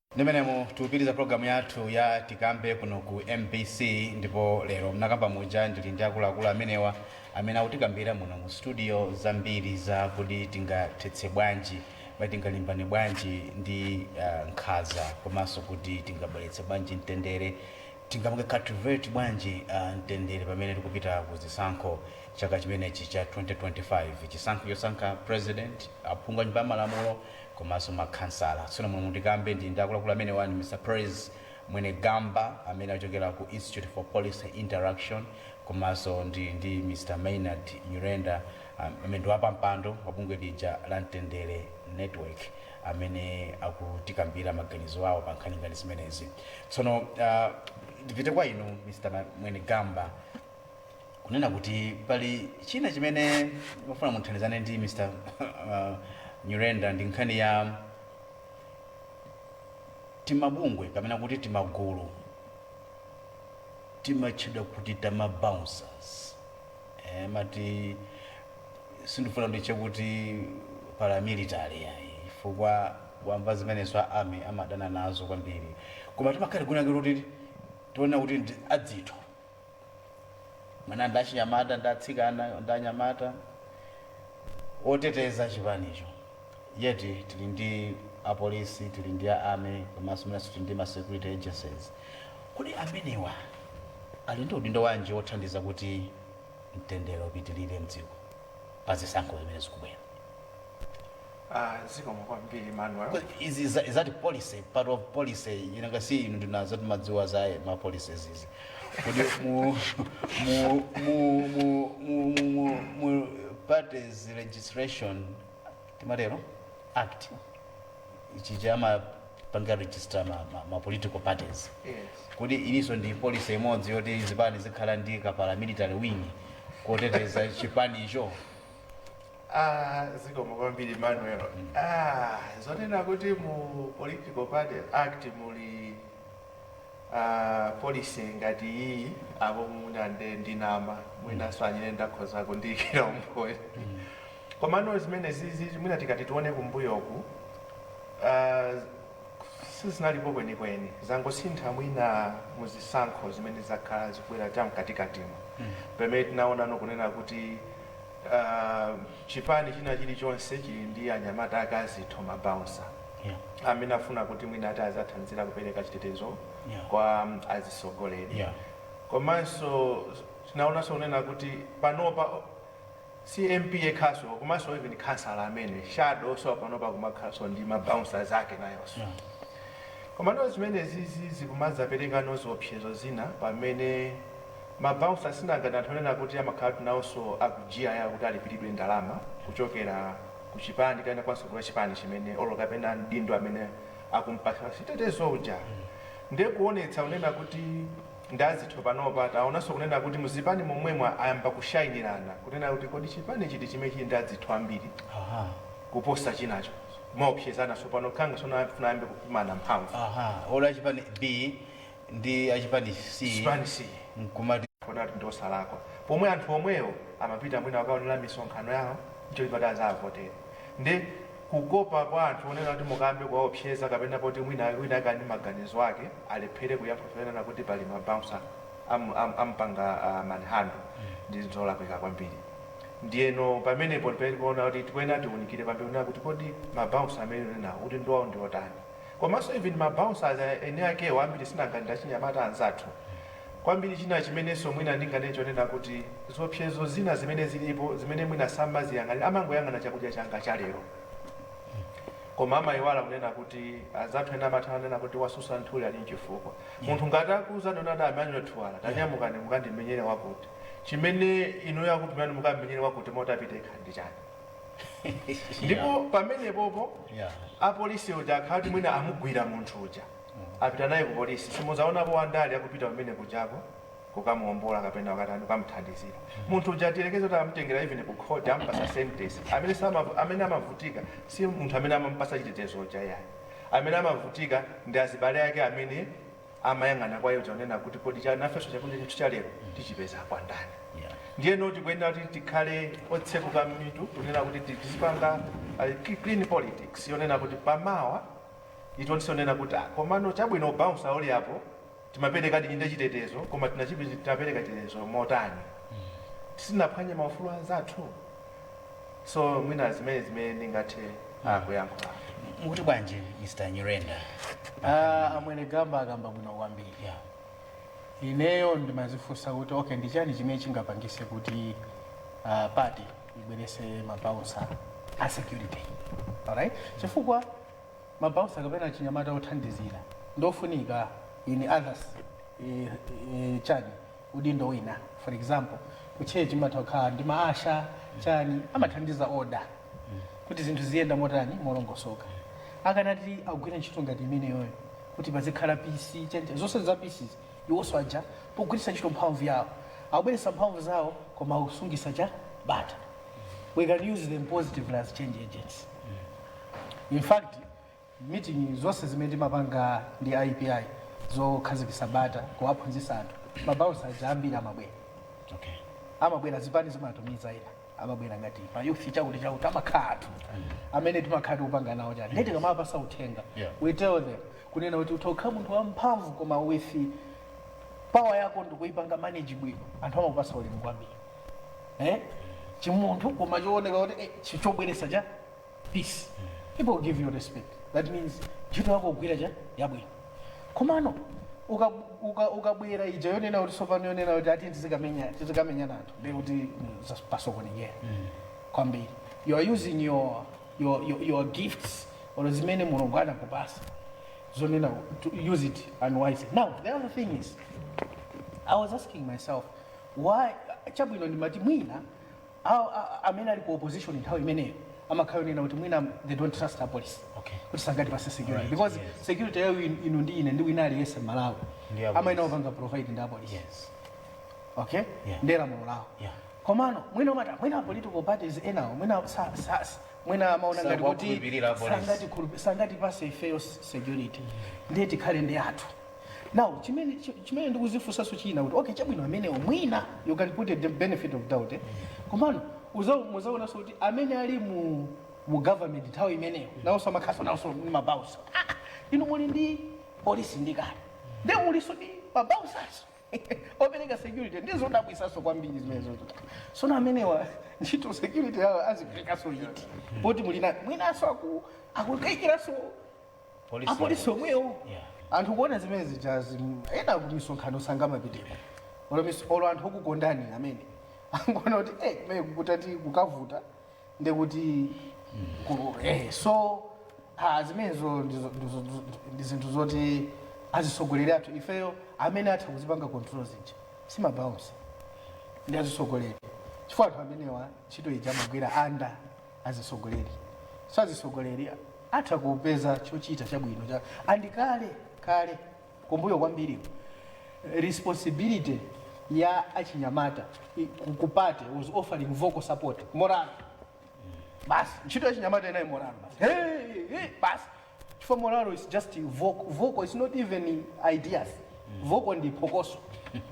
Ndi mmenemu tikupitiriza program yathu ya tikambe kuno ku mbc ndipo lero mnakambira muja ndili ndi akuluakulu amenewa amene akutikambira muno mu studio zambiri za kodi tingathetse bwanji kodi tingalimbane bwanji ndi uh, nkhanza komanso kuti tingabweretse bwanji mtendere tingapange cultivate bwanji uh, mtendere pamene tikupita ku zisankho chaka chimenechi cha 2025 chisankho chosankha president aphungu a nyumba ya malamulo komanso makhansala. Tsono muno mu Tikambe ndili ndi akuluakulu amenewa ndi Mr Praise Mwenegamba amene achokera ku Institute for Policy Interaction komanso ndili ndi Mr Maynard Nyirenda amene ndi wapampando wa bungwe lija la Mtendere Network amene akutikambira maganizo awo pa nkhani ngati zimenezi. Tsono ndipite kwa inu Mr Mwenegamba. kunena kuti pali china chimene ndimafuna muthandizane ndi mr uh, Nyirenda ndi nkhani ya timabungwe kapena kuti timagulu timatchedwa kuti tama bouncers eh, mati sindifuna nditchule kuti paramilitary yayi chifukwa akamva zimenezo a army amadana nazo kwambiri koma timakhala kunakira kuti tiona kuti ndi adzitho mwana ndi achinyamata ndi atsikana ndi anyamata oteteza chipanicho yet tili ndi apolisi tili ndi a army komanso mwinanso tili ndi ma security agencies kodi amenewa ali ndi udindo wanji wothandiza kuti mtendere upitirire mdziko pa zisankho zimene zikubwera Ah, zikomo kwambiri Manuel. Kwa- is that policy part of policy nanga si inu ndinazo timadziwa za ma policies izi kodi mu mu mu mu mu mu- mu parties registration timatero act ichi chomapanga register ma, ma, ma political parties Yes. kodi iliso ndi policy imodzi yoti zipani zikhala ndi ka paramilitary wing koteteza chipanicho Ah, zikomo kwambiri Emmanuel. Ah, zonena kuti mu Political Party Act muli ah, policy ngati iyi apo mwina nde ndinama mwinanso a Nyirenda akhoza kundiyikira umboni komano zimenezizi mwina tikati tione kumbuyoku ah, sizinalipo kwenikweni zangosintha mwina muzisankho zimene zakhala zikubwera cha mkatikatimo pamene tinaonano kunena kuti chipani china chilichonse chili ndi anyamata ake azitho, ma bouncer, yeah, amene afuna kuti mwina ati azathandizira kupereka chitetezo yeah, kwa azitsogoleri yeah. Komanso tinaonanso kunena kuti panopa si MP yekhaso komanso even khansala amene shadow so panopa kumakhalanso ndi ma bouncers ake nayonso yeah. Komano zimenezizi zikumadzaperekano ziopsezo zina pamene Ma bouncer sinanga ndi anthu onena kuti amakhalatu naonso a ku GIL kuti alipilidwe ndalama kuchokera ku chipani kapena kwa mtsogoleri wa chipani chimene or kapena mdindo amene akumpatsa chitetezo uja. Nde kuonetsa kunena kuti ndi azitho panopa taonanso kunena kuti mu zipani momwemo ayamba kushainirana kunena kuti kodi chipani chiti chimene chili ndi adzitho ambiri kuposa chinacho. Kumaopsezana tsopano khanga tsopano afuna ayambe kupimana mphamvu. Olo a chipani B ndi a chipani C Chipani C nkumati kuona kuti ndiosalakwa pomwe anthu omwewo amapita mwina kukaonera misonkhano yawo ncholinga kuti azawavotere nde kukopa kwa anthu onena kuti mukayambe kuwaopseza kapena poti mwina wina ake ali ndi maganizo ake alephere kuyankha zonena kuti pali ma bouncer am, am, ampanga uh, manhandle ndi zinthu zolakwika kwambiri ndiyeno pamenepo ndipamene tikuona kuti tikuyenera tiunikire kwambiri kunena kuti kodi ma bouncer amene unenawo udindo wawo ndiotani Komaso even ma bouncers eni akewo ambiri sinanga ndi achinyamata anzathu kwambiri china chimeneso mwina ndinganene chonena kuti ziopsezo zina zimene zilipo zimene mwina samaziyang'anira amangoyang'ana chakudya changa cha lero koma amayiwala kunena kuti anzathu ena amatha kunena kuti watsutsa nthuli ali nchifukwa munthu ngati akuuzani kuti adadi anyule thuwala tanyamukani mukandimenyere wakuti chimene inuyo akutumirani mukammenyere wakuti osati apite yekha ndi chani? ndipo pamenepopo Yeah. apolisi uja akhala kuti mwina amugwira munthu uja apita naye ku polisi simuzaonapo wandale akupita kumene kujako kukamuombola kapena wakatani kukamuthandizira munthu uja tiyerekeze kuti amutengera even ku court ampasa sentence amene samavu- amene amavutika si munthu amene amampasa chitetezo uja yayi amene amavutika ndi azibale ake amene amayang'ana kwa iyo kunena kuti kodi cha nafenso chakudya chathu cha lero tichipeza kwa ndani Yeah. ndiyeno tikuyenera kuti tikhale otseguka m'mitu kunena kuti ti- tizipanga uh, ki- clean politics yonena kuti pamawa itiwonetse zonena kuti ah, komano chabwino bouncer uli apo timapereka ndithudi chitetezo koma tinachipi- tinapereka chitetezo motani tisinaphwanye maufulu anzathu so mwina zimene zimene ndingathe ah, kuyankhula mukuti bwanji mr nyirenda Ah, amwene gamba akamba bwino kwambiri yeah. ineyo ndimazifunsa kuti okay ndi chani chimene chingapangise kuti ah, party ibwerese mabaunsa a security alright chifukwa mabaunsa kapena chinyamata othandizira ndofunika in others eh, eh, chani udindo wina for example ku church mumatha kukhala ndi ma usher chani amathandiza order kuti zinthu ziyenda motani molongosoka akanati agwire ntchito ngati imeneyoyo kuti pazikhala peace chani zonse za peace iwonso aja pogwiritsa ntchito mphamvu yawo akubweretsa mphamvu zawo koma akusungitsa cha bata we can use them positively as change agents in fact meeting zonse zimene timapanga ndi IPI zokhazikisa bata kuwaphunzisa anthu ma bouncer aja ambiri amabwera okay. amabwera zipani zimatumiza ena amabwera ngati pa youth chakuti chakuti amakhala anthu amene timakhala tikupanga nawo chani nde tikamawapasa uthenga Yeah. we tell them kunena kuti utha kukhala munthu wamphamvu koma with power yako utaipanga manage bwino anthu amakupasa ulemu kwambiri eh? chimunthu koma chooneka kuti eh, chi- chobweresa cha peace people will give you respect that means ntchito yako ugwira cha yabwino komano uka- uka- ukabwera ija yonena kuti sopano yonena kuti ati tizikamenya- tizikamenya anthu ndiye kuti mm, zas- pasokonekera kwambiri you are using your, your, your, your gifts or zimene mulungu anakupasa zonena to use it unwisely now the other thing is i was asking myself why chabwino ndimati mwina Awo a- a- amene ali ku opposition nthawi imeneyo amakhala onena kuti mwina they don't trust the police Okay. kuti sangatipatse security Alright, because yes. security yayo in- inu ndi ine ndi wina aliyense Mmalawi Ndi apolisi. amayenera kupanga provide ndi apolisi yes okay Yeah. ndi lamulo lawo Yeah. komano mwina umati mwina political parties enawo mwina sa- sa- sa- mwina amaona ngati kuti Sakuwakhulupirira apolisi. sangatikhulupi- sangatipatse ifeyo s- security ndiye tikhale ndi athu now chimene chi- chimene ndikuzifunsanso china kuti okay chabwino amenewo mwina you can put the benefit of doubt eh? komano uza- muzaonanso kuti amene ali mu mu government nthawi imeneyo nawonso amakhalanso nawonso ndi mabaunsa ah, inu muli ndi polisi ndi kale nde mulinso ndi mabaunsanso opereka security ndizodabwitsanso kwambiri zimenezo so amenewa ntchito security yawo aziperekanso yiti poti mwina mwinanso aku- akukaikiranso Police apolisi yake. omwewo Yeah. anthu kuona zimene zijazi mm, ena ku misonkhano sangamapiteko olo mis- olo anthu okukondani amene akuona kuti eh kumene kukutati kukavuta ndekuti ku- eh so ah, zimenezo ndizo- ndizo- ndizo- ndi zinthu zoti azitsogoleri athu ifeyo amene atha kuzipanga control zija si mabaunsa ndi azitsogoleri chifukwa anthu amenewa ntchito ija amagwira anda azitsogoleri so azitsogoleri atha kupeza chochita chabwino cha and kale kale kumbuyo kwambiri responsibility ya achinyamata i- ku- ku party was offering vocal support morale basi ntchito ya achinyamata inali morale basi hey, hey, basi chifukwa morale is just vocal vocal is not even ideas vocal ndi phokoso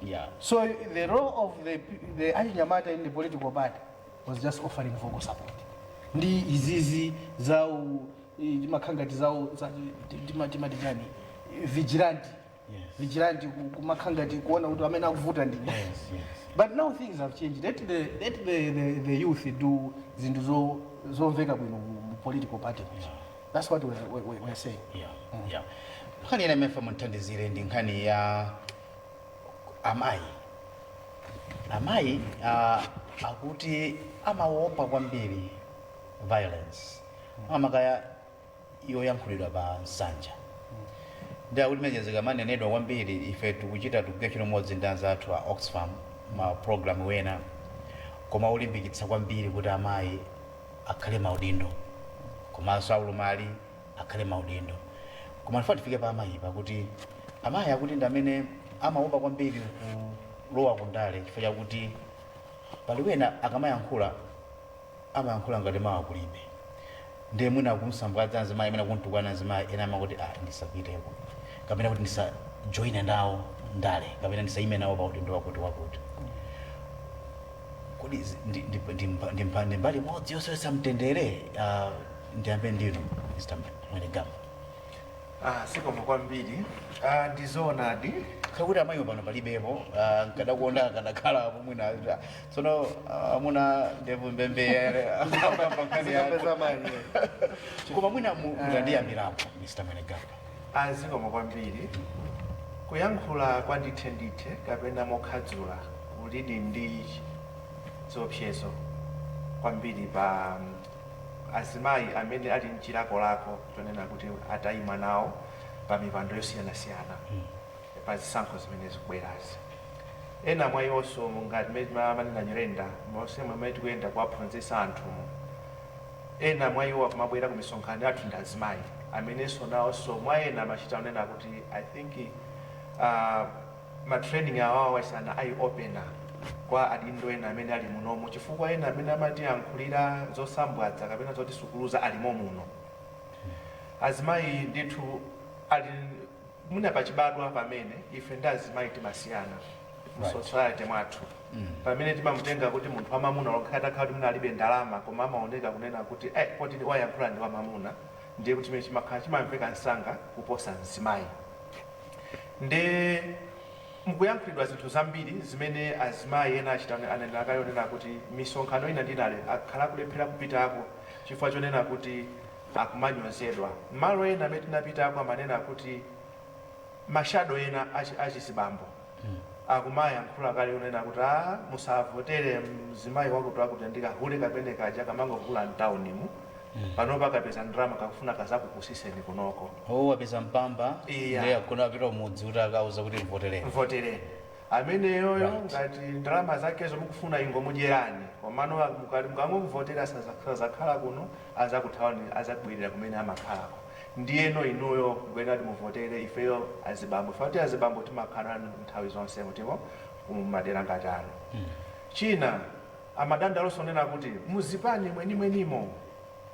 yeah. so the role of the, the achinyamata in the political party was just offering vocal support ndi izizi za u- i- makhangati zawo za- ti- tima- timati chani vigilante Yes. vigilante ku- kumakhala ngati kuona kuti amene akuvuta ndi ndani. Yes, yes. but now things have changed let the, let the, the, the youth do zinthu zo- zomveka bwino mu mu political party muja. that's what we're, we're, we're saying Yeah, yeah. nkhani ina ndimafuna mundithandizire ndi nkhani ya amayi amayi ah, akuti amawopa kwambiri violence amakaya yoyankhulidwa pa nsanja ndiyakuti mene zikamanenedwa kwambiri ife tikuchita tikugwira ntchito limodzi ndi anzathu a Oxfam ma program ena ake olimbikitsa kwambiri kuti amayi akhale maudindo komanso aulumali akhale maudindo koma ndifuna tifike pa amayi pakuti amayi akuti ndi amene amaopa kwambiri kulowa ku ndale chifukwa chakuti pali wena akamayankhula amayankhula ngati mawa kulibe nde mwina akumsambwadza mzimayi mwina kumtukwana mzimayi, ena amangoti ah ndisapiteko kapena kuti ndisa joine nawo ndale kapena ndisaime nawo pa udindo wakuti wakuti kodi izi ndi- ndi- ndi mba- ndi mba- ndi mbali imodzi yosowetsa mtendere Ah, ndiyambe ndinu mr mwenegamba Ah, zikomo kwambiri ah, ndizoonadi kakuti amayiwo pano palibepo ah, nkadakonda akadakhala apo mwina ah, tsono ah, amuna ndevu mbembeyere Zikapeza manyazi. koma mwina mu- mutandiyambirapo mr mwenegamba ah zikomo kwambiri kuyankhula kwa ndithe ndithe kapena mokhadzula kulidi ndi ziopsezo kwambiri pa mm, azimayi amene ali nchilakolako chonena kuti atayima nawo pa mipando yosiyanasiyana pa zisankho zimene zikubwerazi. Ena mwa iwonso monga mmene timanena Nyirenda, monse momwe tikuyenda kuwaphunzitsa anthumu, ena mwa iwo akumabwera ku misonkhano yathu ndi azimayi amenenso nawonso mwa ena amachita kunena kuti I think uh, ma training awowa is an eye opener kwa adindo ena amene ali munomu chifukwa ena amene amatiyankhulira zosambwadza kapena zotisukuluza alimo muno azimayi ndithu ali mwina pachibadwa pamene ife ndi azimayi timasiyana mu Right. society mwathu Mm. pamene timamutenga kuti munthu wamamuna olo atakhala kuti mwina alibe ndalama koma amaoneka kunena kuti eh, poti ndi- wayankhula ndi wamamuna ndiye kuti chimene chimakhala chimamveka msanga kuposa mzimayi nde mukuyankhulidwa zinthu zambiri zimene azimayi ena achita ane- anenera kale onena kuti misonkhano ina ndi ina ale- akhala akulephera kupitako chifukwa chonena kuti akumanyozedwa. Malo ena amene tinapitako amanena kuti ma shadow ena achi achizibambo akumayankhula kale kunena kuti aah musavotere mzimayi wakuti wakuti ndi ka hule kamene kaja kamangokula mtown mu panopa kapeza ndalama kakufuna kazakupusiseni kunoko. Oh wapeza mpamba Eya. ndiye akufuna apite kumudzi kuti akauze kuti mvotereni. mvotereni ameneyoyo Right. ngati ndalama zakezo mukufuna ingomudyerani komano mukati mukangomuvotera saza- sazakhala kuno azakuthawani azabwelera kumene amakhalako ndiyeno inuyo mukuyenera kuti muvotere ifeyo azibambo chifukwa choti azibambo timakhala nanu nthawi zonse mutipeza kumadera ngati ano, china amadandaulanso kunena kuti muzipani mwenimwenimo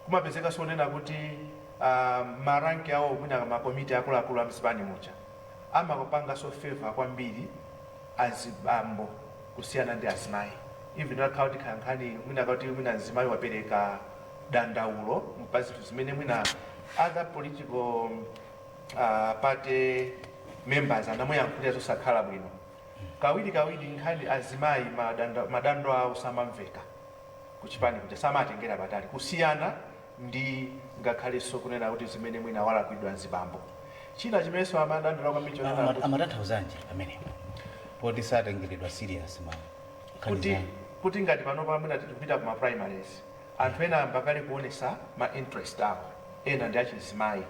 kumapezekanso kunena kuti aah ma rank awo mwina ma komiti akuluakulu amzipani muja amapanganso favour kwambiri azibambo kusiyana ndi azimayi even atakhala kuti ikhale nkhani mwina kuti mwina mzimayi wapereka dandaulo pa zinthu zimene mwina other political uh, party members anamuyankhulira zosakhala bwino kawiri kawiri nkhani azimayi madando, madando awo samamveka kuchipani kuja samatengera patali kusiyana ndi ngakhalenso kunena kuti zimene mwina walakwiridwa azibambo. China chimenenso amadandaula kwambiri chonena kuti. Amatanthauzanji pamenepa poti satengeredwa serious pa nkhani kuti zanu? kuti ngati panopa mwina tikupita ku ma primaries anthu ena ayamba kale kuonesa ma interest awo ena ndi achizimayi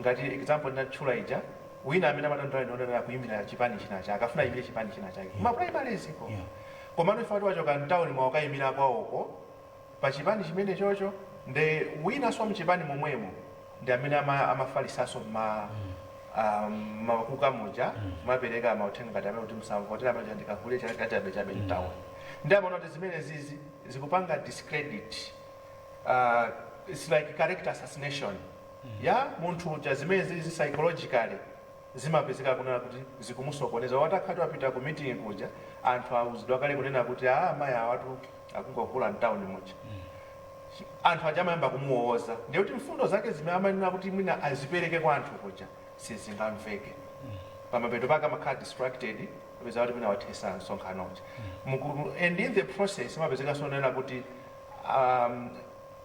ngati example ndinatchula ija wina amene amadandaula ndi wonena kuimira chipani china chake akafuna aimire chipani china chake ku ma primaries ko Yeah. komano chifukwa choti wachoka mtauni mwa wakaimira kwawoko pa chipani chimenechocho nde winanso wa mchipani momwemo ndi amene ama amafalitsanso mma ah, mmakuka muja kumapereka mauthenga ngati amene kuti musamvotere amene uja ndikahule cha- lachabechabe mtown nde amaona kuti zimenezizi zikupanga discredit uh, it's like character assassination ya munthu uja zimenezi psychologically zimapezeka kunena kuti zikumusokoneza or atakhala kuti wapita ku meeting kuja anthu auzidwa kale kunena kuti aa amayi awatu akungohula mtown muja anthu aja amayamba kumuwowoza ndiye kuti mfundo zake zimene amayenera kuti mwina azipereke kwa anthu kuja sizingamveke pamapeto pake amakhala distracted apeza kuti mwina wathetsa msonkhano uja Muku- and in the process zimapezekanso zonena kuti um,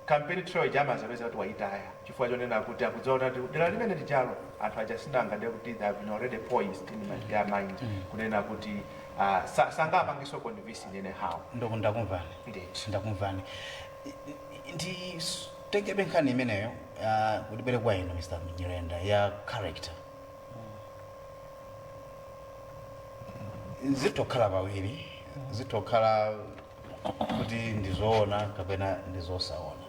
Kampeni trail ija amazapeza kuti wayitaya chifukwa chonena kuti akudziona kuti ati dera limene lijalo anthu aja sinanga ndiye kuti they have been already poisoned in my, their mind kunena kuti uh, sa, sangapangenso convince in any how okay ndakumvani ndithu ndakumvani nditengepo nkhani imeneyo ah, kuti tibwere kwa inu mr nyirenda ya character zitokhala pawiri zitokhala kuti ndi zoona kapena ndi zosaona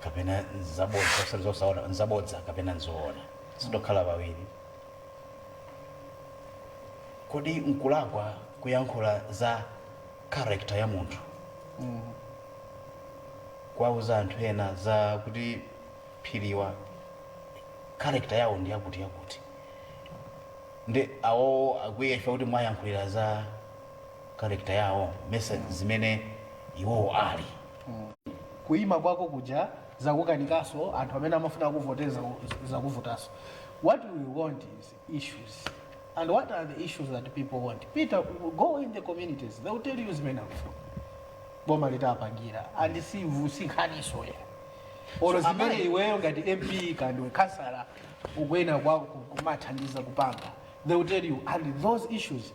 kapena nzabodza osati zosaona nzabodza kapena nzoona zitokhala pawiri kodi nkulakwa kuyankhula za karekta ya munthu kuwauza anthu ena za kuti Phiri awa karekta yawo ndi yakuti yakuti ndi awowo akwiye ife kuti mwayankhulira za character yawo message zimene iwowo ali kuima kwako kuja zakukanikaso anthu amene amafuna kuvoteza zakuvutaso what we want is issues and what are the issues that people want pita go in the communities they will tell you zimene akufuna boma litapangira and si si nkhani izo ya olo So, zimene amayi- iweyo ngati mp kandiwe kansala ukuyenera kukamathandiza kupanga they will tell you and those issues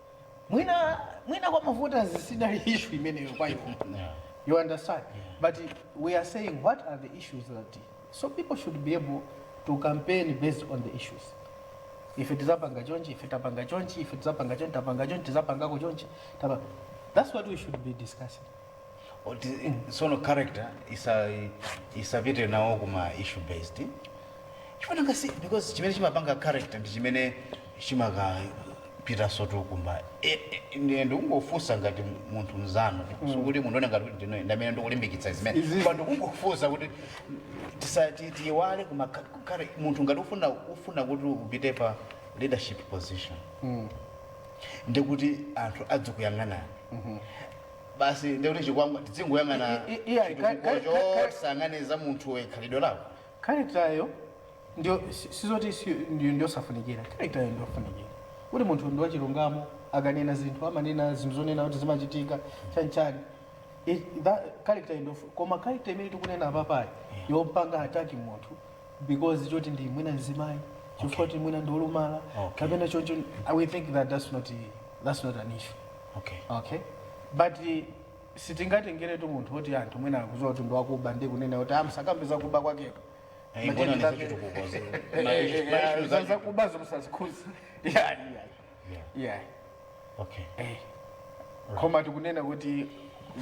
mwina mwina kwa mavoters sizili issue imeneyo kwa iwo Yeah. you understand but we are saying what are the issues that so people should be able to campaign based on the issues ife tizapanga chonchi ife tapanga chonchi ife tizapanga chonchi tapanga chonchi tizapangako chonchi tapa that's what we should be discussing Oti, sono character isa isapite nawo kuma issue based chifana ngasi because chimene chimapanga character ndi chimene chimakapitanso tu kumba e, e, ndi- ndikungofunsa ngati munthu mzanu sikuti munthu aone ngati kuti ndine- ndamene ndikulimbikitsa zimene Izi- koma ndikungofunsa kuti tisa- ti- tiyiwale kuma ka- kare- munthu ngati ufuna ufuna kuti upite pa leadership position ndikuti anthu adzikuyang'anani basi ndiye kuti chikwangwa tidzingoyang'ana I- i- iya, chitukuko ka- ka- ka- ka- tisayang'ane za munthuwe khalidwe lako characteryo ndio si- sizoti si- ndio ndiyosafunikira characteryo ndiyofunikira kuti munthu ndi wachilungamo akanena zinthu amanena zinthu zonena kuti zimachitika chanichani It- that character ndio fu- koma character imene tikunena apapayi yompanga attack munthu because choti ndi mwina mzimayi chifukwa kuti mwina ndi olumala Okay. kapena choncho we think that that's not that's not an issue okay okay but eh, sitingatengeretu munthu woti anthu mwina akuziwa kuti ndiwakuba ndi kunena kuti musakambe zakuba kwakeko Eh, But mbona then ni that- zachitu kukoze. Eh, Ma- eh, ma- eh, issues za- zachitu- zakuba zomsazikhuza yeah, yeah. yeah okay eh. koma tikunena kuti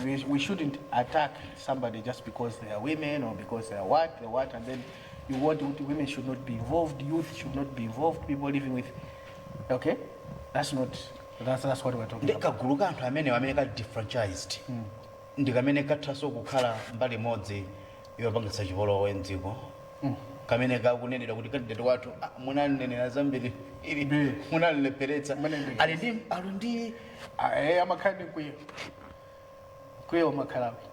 we, we shouldn't attack somebody just because they are women or because they are what they are what and then you want kuti women should not be involved youth should not be involved people living with okay that's not that's, that's what we're talking about ndi kagulu ka anthu amenewa amene ka disenfranchised ndi kamene kathanso kukhala mbali imodzi yopangitsa chipolowe mdziko kamene kakunenedwa kuti kandidati wathu ah, munamunenera zambiri ili Ndi. munamulepheretsa Mene ndi. ali ndi ali ndi aye amakhala ndi mkwiyo mkwiyo umakhalapo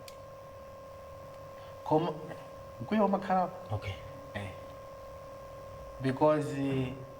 koma mkwiyo umakhalapo okay because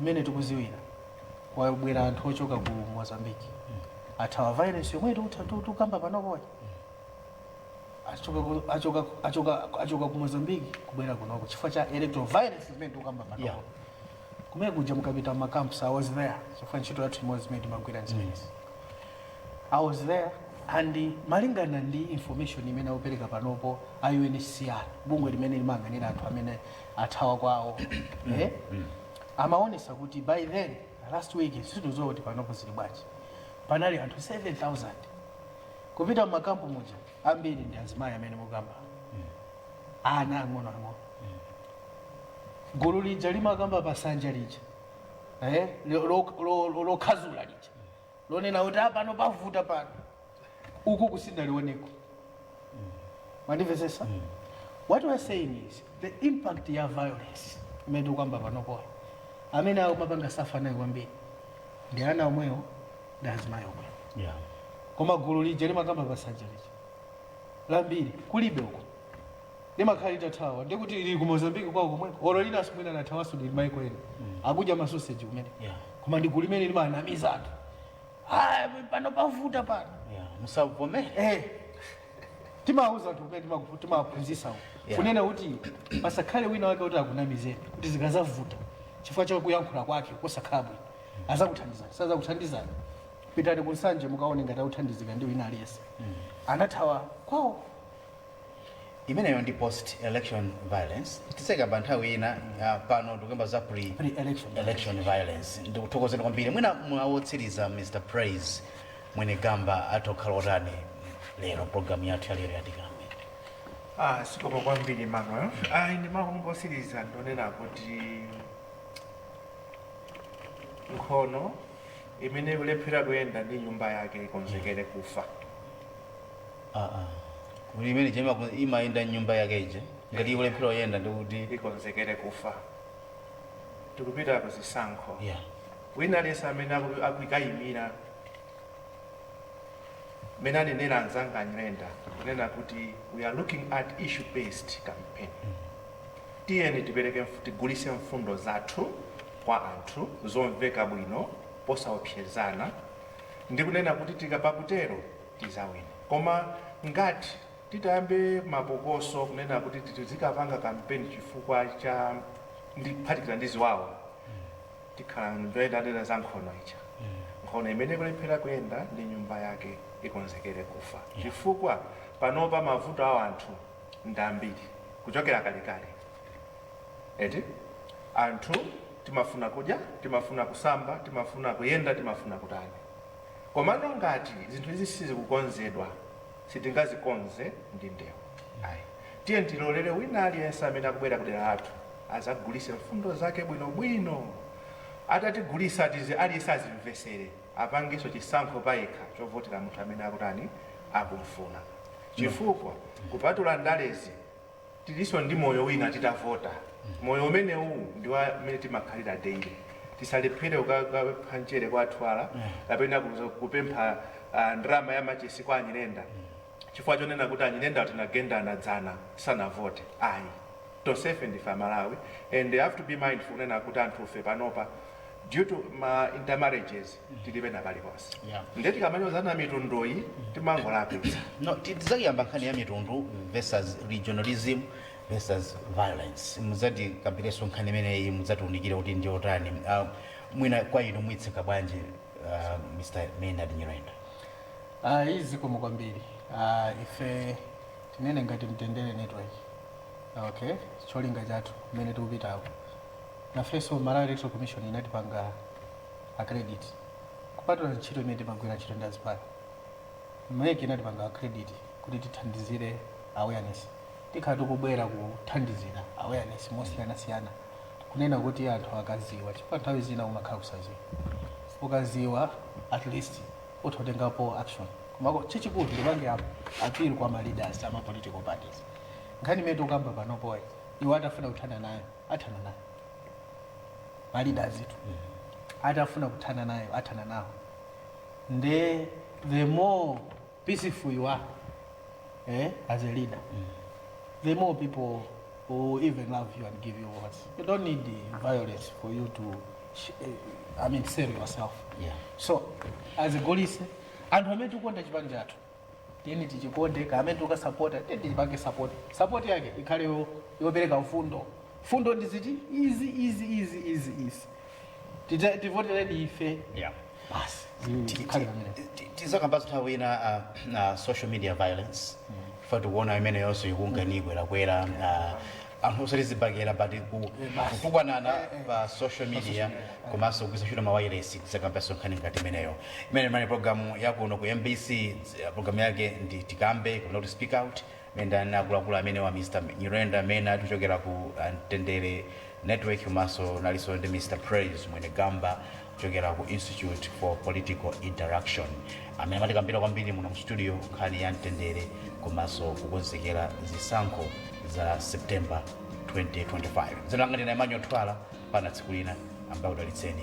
mmene tikuziwira kwabwera anthu ochoka ku mozambique athawa violence yomwe tikutha tu- tukamba panopoyi achoka ku- achoka- achoka- achoka ku mozambique kubwera kunoko chifukwa cha electoral violence imene tikukamba Yeah. panopo kumene kuja mukapita m'macamps i was there chifukwa ntchito yathu imodzi imene timagwira nzimenezi i was there and malingana ndi information imene akupereka panopo a UNHCR bungwe limene limayang'anira anthu amene athawa kwawo eh? amaonesa kuti by then last week sitikudziwa kuti panopo zili bwanji panali anthu 7000 kupita mumakampu muja ambiri ndi azimayi amene mukamba ana ang'onoang'ono gulu lija limakamba pasanja lija eh? lo- lo- lo- lo- lokhazula lija lonena kuti "Ah, pano pavuta pano uku kusinalioneko mwandimvetsetsa what we are saying is the impact ya violence imene tikukamba panopoyi amene akumapanga suffer nayo kwambiri ndi ana omwewo ndi azimayi omwewo Yeah. koma gulu lija limakamba pasanja lija lambiri kulibe uko limakhala litathawa ndiye kuti lili ku mozambique kwawo komweko olo linanso mwina lathawanso lili maiko ena akudya masoseji kumene Yeah. koma ndi gulu limene limanamiza anthu "Ah, pano pavuta pano Yeah, musavomere Eh, timawuza anthu kumene timaku- timawaphunzitsa uko. Yeah. kunena kuti pasakhale wina wake kuti akunamizeni kuti zikazavuta chifukwa cha kuyankhula kwake kosakhala bwino azakuthandizani sazakuthandizani pitani ku nsanje mukaone ngati akuthandizika ndi wina aliyense anathawa kwawo Imeneyo ndi post election violence tiseka pa nthawi ina ya pano tikuyamba za pre Pre-election election violence ndikuthokozeni kwambiri mwina mawu otsiriza Mr Praise Mwenegamba athu okhala otani lero pa programu yathu ya lero ya Tikambe Ah, zikomo kwambiri Emmanuel. Ah, ine mongotsiriza ndonena kuti nkhono imene ikulephera kuyenda ndi nyumba yake ikonzekere kufa. aa kuti imene ija imaku- imayenda ndi nyumba yake ija ngati ikulephera kuyenda ndikuti ikonzekere kufa tikupita ku zisankho yeah. wina aliyense amene aku- akukaimira mene anenera anzanga a Nyirenda kunena kuti we are looking at issue based campaign tiyeni tipereke mf- tigulise mfundo zathu kwa anthu zomveka bwino posaopsezana ndi kunena kuti tikapa- kutero tizawina koma ngati titayambe mapokoso kunena kuti tizikapanga kampeni chifukwa cha ndi kuphatikiza ndi ziwawa tikhala ndionjeza anena za nkhono ija nkhono imene ikulephera kuyenda ndi nyumba yake ikonzekere kufa chifukwa panopa mavuto a anthu ndi ambiri kuchokera kalekale eti anthu timafuna kudya timafuna kusamba timafuna kuyenda timafuna kutani Komano ngati zinthu izi sizikukonzedwa, sitingazikonze ndi ndewu ayi. Tiyeni tilolere wina aliyense amene akubwera kudera lathu azagulise mfundo zake bwinobwino. Atatigulisa tizi aliyense azimvesere apangenso chisankho payekha chovotera munthu amene akutani akumfuna. Chifukwa kupatula ndalezi. Tilinso ndi moyo wina titavota. Moyo umenewu ndi wa mmene timakhalira daily. Tisalephere kukapempha mchere kwa Athwala kapena kupempha ndalama ya machesi kwa a Nyirenda chifukwa chonena kuti a Nyirenda tinagendana dzana tisanavote ayi. Tonsefe ndife a Malawi and have to be mindful kunena kuti anthufe panopa due to ma intermarriages, tilibe napaliponse Yeah. nde tikamanyozana mitunduyi timangolakwitsa no ti- tidzaiyamba nkhani ya mitundu versus regionalism versus violence mudzatikambirenso nkhani imeneyi mudzatiunikire kuti ndi yotani uh, mwina kwa inu muitseka bwanji uh, mr maynard nyirenda Ah, iyi zikomo kwambiri Ah, ife tinene ngati mtendere network okay cholinga chathu kumene tikupitako nafenso malawi electoral commission inatipanga accredit kupatula ntchito imene timagwira ntchito ndi azipani mec inatipanga accredit kuti tithandizire awareness tikhala tikubwera kuthandizira awareness mosiyanasiyana kunena kuti anthu akaziwa chifukwa nthawi zina umakhala kusaziwa ukaziwa at least utha kutengapo action komako chachikulu ndipangepo appeal kwa ma leaders ama political parties nkhani imene tikukamba panopoyi iwo atafuna kuthana nayo athana nayo malidazitu atafuna kuthana nayo athana nawo nde the more peaceful you are eh, as a leader the more people will even love you and give you words you don't need the violence for you to sh- eh, i mean save yourself Yeah. so as a golise anthu amene tikukonda chipani chathu tiyeni tichikonde kamene tikasapota tiyeni tichipange sapoti sapoti yake ikhale yo- yopereka mfundo mfundo ndi ziti izi izi izi izi izi Ti- tivotereni ife Yeah. basi tikhale pamene tizakambaso nthawi ina uh, uh, social media violence ife tikuona imeneyonso ikukhala ngati ikukwerakwera uh, anthu osati zibakera but ku- basi. kutukwanana Eh, eh. pa social media komanso kugwiritsa ntchito mawayilesi tizakambanso nkhani ngati imeneyo imeneyi inali programu yakuno ku mbc eh, programu yake ndi tikambe kapena kuti speak out mmene ndinali ndi akuluakulu amenewa mr nyirenda amene atichokera ku ah, mtendere network komanso ndinalinso ndi mr praise mwene gamba kuchokera ku Institute for Political Interaction amene amatikambira kwambiri muno mu studio nkhani ya mtendere komanso kukonzekera zisankho za September 2025. Dzina langa ndine Emmanuel Twala, pana tsiku lina Ambuye akudalitseni